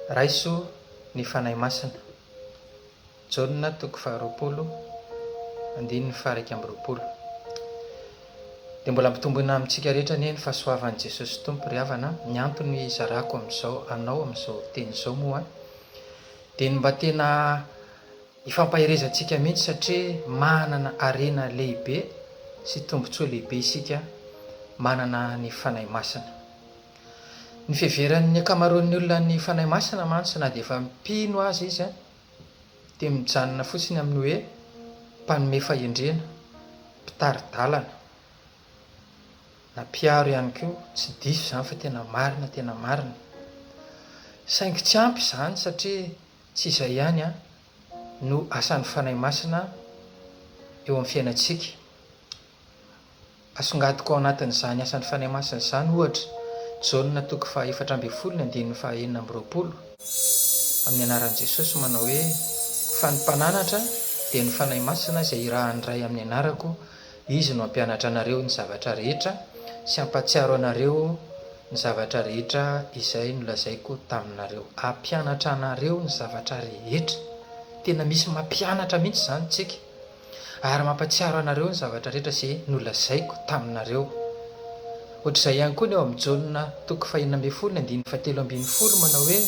Raiso ny Fanahy Masina. Jaona toko faharoapolo andininy faha-iraika amby roapolo Dia mbola ampitomboina amintsika rehetra anie ny fahasoavan'i Jesosy Tompo ry havana a! Ny antony izarako amin'izao anao amin'izao teny izao moa, Dia ny mba tena ifampaherezantsika mihitsy satria manana harena lehibe sy tombontsoa lehibe isika manana ny Fanahy Masina. Ny fiheveran'ny ankamaroan'ny olona ny Fanahy Masina mantsy na dia efa mpino aza izy dia mijanona fotsiny amin'ny hoe mpanome fahendrena, mpitari-dalana. Nampiaro ihany koa, tsy diso izany fa tena marina, tena marina. Saingy tsy ampy izany satria tsy izay ihany no asan'ny Fanahy Masina eo amin'ny fiainantsika. Asongadiko ao anatin'izany asan'ny Fanahy Masina izany ohatra Jaona toko fahaefatra ambin'ny folo ny andininy fahaenina amby roapolo, amin'ny anaran'i Jesosy manao hoe, Fa ny Mpananatra dia ny Fanahy Masina izay irahan'ny Ray amin'ny anarako, Izy no hampianatra anareo ny zavatra rehetra sy hampatsiaro anareo ny zavatra rehetra izay nolazaiko taminareo. Hampianatra anareo ny zavatra rehetra. Tena misy mampianatra mihitsy izany tsika. Ary mampatsiaro anareo ny zavatra rehetra izay nolazaiko taminareo. Ohatr'izay ihany koa ny ao amin'ny Jaona toko fahenina ambin'ny folo ny andininy fahatelo ambin'ny folo manao hoe,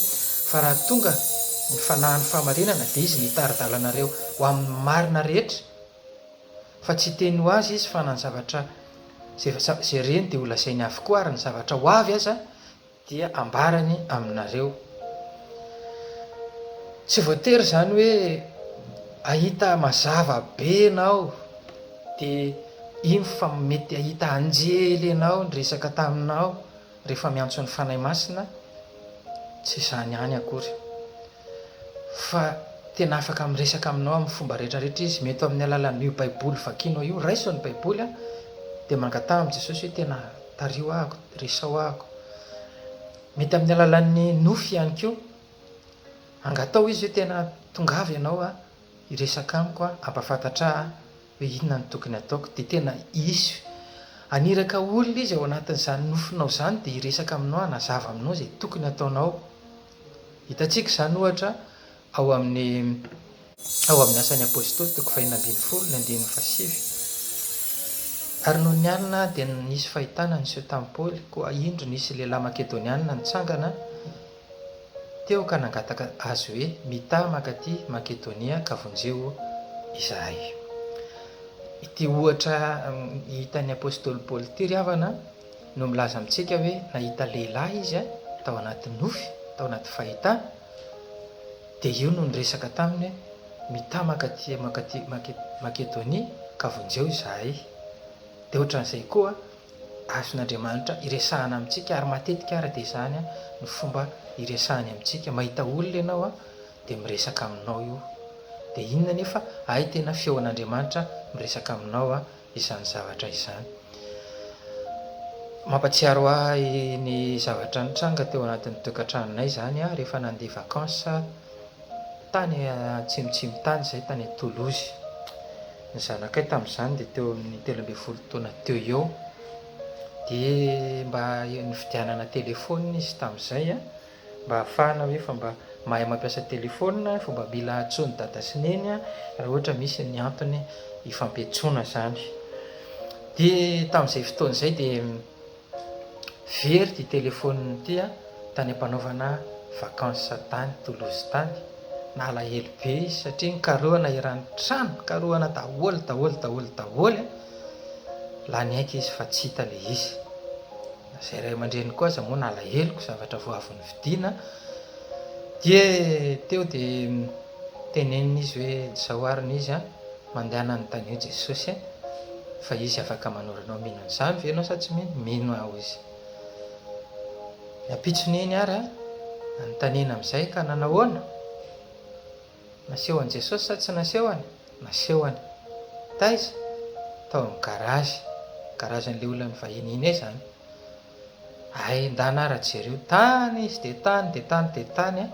Fa raha tonga ny fanahin'ny fahamarinana dia izy no hitari-dalanareo ho amin'ny marina rehetra. Fa tsy hiteny ho azy izy fa na ny zavatra izay jereny dia holazainy avokoa ary ny zavatra ho avy aza dia hambarany aminareo. Tsy voatery izany hoe hahita mazava be ianao dia iny fa mety hahita anjely ianao niresaka taminao rehefa miantso ny Fanahy Masina, tsy izany ihany akory. fa tena afaka miresaka aminao amin'ny fomba rehetra rehetra Izy. Mety ho amin'ny alalan'io Baiboly vakianao io. Raiso ny Baiboly, dia mangataha amin'i Jesosy hoe, Tena tariho ahako, resao ahako. Mety amin'ny alalan'ny nofy ihany koa. Angataho Izy hoe, Tena tongava Ianao hiresaka amiko, hampafantatra ahy hoe inona no tokony hataoko. Dia tena hisy haniraka olona Izy ao anatin'izany nofinao izany, dia hiresaka aminao, hanazava aminao izay tokony hataonao. Hitantsika izany, ohatra, ao amin'ny ao amin'ny Asan'ny Apôstôly, toko fahefatra ambin'ny folo, ny andininy fahasivy, Ary nony alina dia nisy fahitana niseho tamin'i Paoly, koa indro nisy lehilahy Makedônianina nitsangana teo ka nangataka azy hoe, Mitaha mankaty Makedônia ka vonjeo izahay. Ity ohatra hitan'ny Apôstôly Paoly ity, ry havana, no milaza amintsika hoe nahita lehilahy izy tao anaty nofy, tao anaty fahitana, dia io no niresaka taminy hoe, Mitamaka aty mankaty Makedonia, ka vonjeo izahay. Dia hoatran'izay koa, azon'Andriamanitra iresahana amintsika, ary matetika àry dia izany no fomba iresahany amintsika. Mahita olona ianao, dia miresaka aminao io. Dia inona anefa? Hay tena feon'Andriamanitra miresaka aminao izany zavatra izany. Mampatsiaro ahy ny zavatra nitranga teo anatin'ny tokantranonay izany aho rehefa nandeha vacances tany atsimotsimo tany izay tany Toulouse. Ny zanakay tamin'izany dia teo amin'ny telo ambin'ny folo taona teo eo dia mba nividianana téléphone izy tamin'izay Mba afahana ve fa mba mahay mampiasa telephone fa mba mila antsoiny dada sy neny raha ohatra misy ny antony hifampiantsoana zany. Dia tamin'izay fotoana izay dia very ity telephone ity tany ampanaovana vacances tany Toulouse tany. Nalahelo be izy satria nikarohana eran'ny trano, nikarohana daholo daholo daholo daholo, lany aika izy fa tsy hita ilay izy. Izay ray aman-dreny koa aza moa nalaheloko zavatra vao avy novidiana dia teo dia tenenina izy hoe izao ary ny izy an, mandeha hananontany eo Jesosy e, fa izy afaka manoro anao, mino an'izany ve ianao sa tsy mino? Mino aho izy. Ny ampitson'iny ary an, nanontaniana amin'izay ka nanahoana? Nasehon'i Jesosy sa tsy nasehony? Nasehony. Taiza? Tao amin'ny garage. Garagen'ilay olona nivahiny iny izany. Hay, ndana ara jereo. Tany izy dia tany dia tany dia tany an!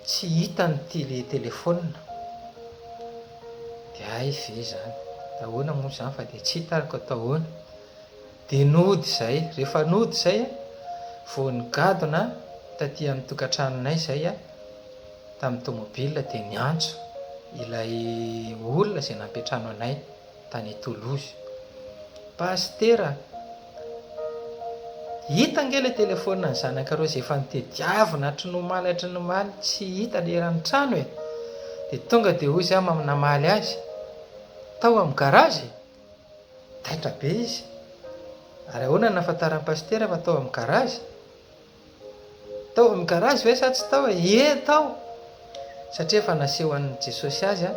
Tsy hitany ity telefaonina. Dia hay ve izany? Dia ahoana moa izany fa dia tsy hitany koa atao ahoana? Dia nody izay, rehefa nody izay a, vao nigadona taty amin'ny tokantranonay izay a, tamin'ny tomobil dia niantso ilay olona izay nampiantrano anay tany Toulouse, Pasitera a, hita ange ilay telefonina ny zanakareo izay efa nitediavina hatry ny omaly hatry ny omaly tsy hita ilay eran'ny trano e, dia tonga dia hoy izy aho namaly azy, tao amin'ny garage e! Taitra be izy. Ary ahoana ny nahafantaran'i Pasitera fa tao amin'ny garazy? Tao amin'ny garazy ve sa tsy tao e? Ie tao! Satria efa nasehon'i Jesosy azy an!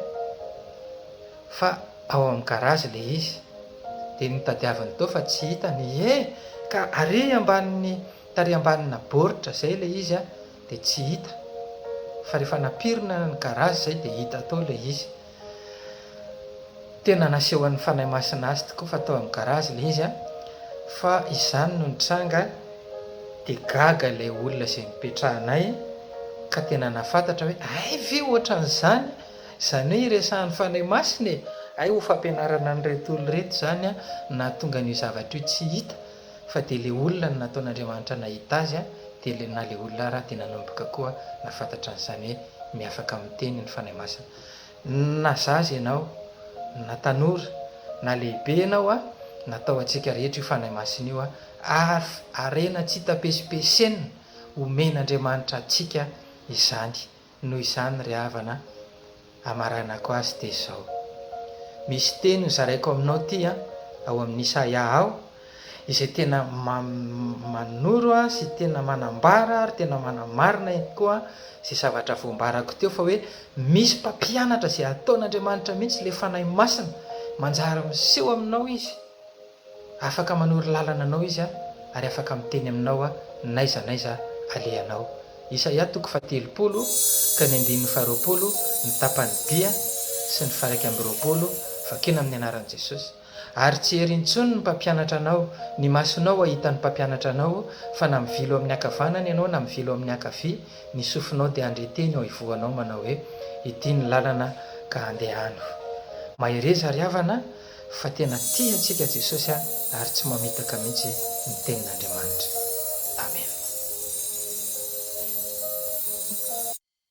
Fa ao amin'ny garazy ilay izy. Dia notadiaviny teo fa tsy hitany. Ie! Ka ary ambanin'ny, tary ambanina baoritra izay ilay izy an, dia tsy hita. Fa rehefa nampirina ny garazy izay dia hita tao ilay izy. Tena nasehon'ny Fanahy Masina azy tokoa fa tao amin'ny garage ilay izy an, fa izany no nitranga dia gaga ilay olona izay nipetrahanay ka tena nahafantatra hoe hay ve ohatran'izany, izany hoe iresahan'ny Fanahy Masina e! hay ho fampianarana an'ireto olona ireto izany an no nahatonga an'io zavatra io tsy hita fa dia ilay olona no nataon'Andriamanitra nahita azy an, dia ilay na ilay olona ary an dia nanomboka koa nahafantatra an'izany hoe miafaka miteny ny Fanahy Masina. Na zaza ianao, na tanora, na lehibe ianao a, natao antsika rehetra io Fanahy Masina io a, ary harena tsy tapesipesena, omen'Andriamanitra antsika izany, noho izany ry havana amaranako azy dia izao, misy teny ho zaraiko aminao ity a, ao amin'ny Isaia ao, izay tena manoro sy tena manambara ary tena manamarina ihany koa izay zavatra voambarako teo fa hoe misy mpampianatra izay ataon'Andriamanitra mihitsy ilay Fanahy Masina manjary miseho aminao izy afaka manoro lalana anao izy a ary afaka miteny aminao a n'aiza n'aiza alehanao Isaia toko fahatelopolo ka ny andininy faharoapolo ny tapany dia sy ny faharaika amby roapolo vakina amin'ny anaran'i Jesosy Ary tsy hery intsony ny mpampianatra anao, ny masonao hahita ny mpampianatra anao, fa na mivilo amin'ny ankavanana ianao na mivilo amin'ny ankavia, ny sofinao dia handre teny eo ivohonao manao hoe, Ity ny lalana ka andehano. Mahereza ry havana fa tena tia antsika Jesosy a, ary tsy mamitaka mihitsy ny tenin'Andriamanitra. Amena.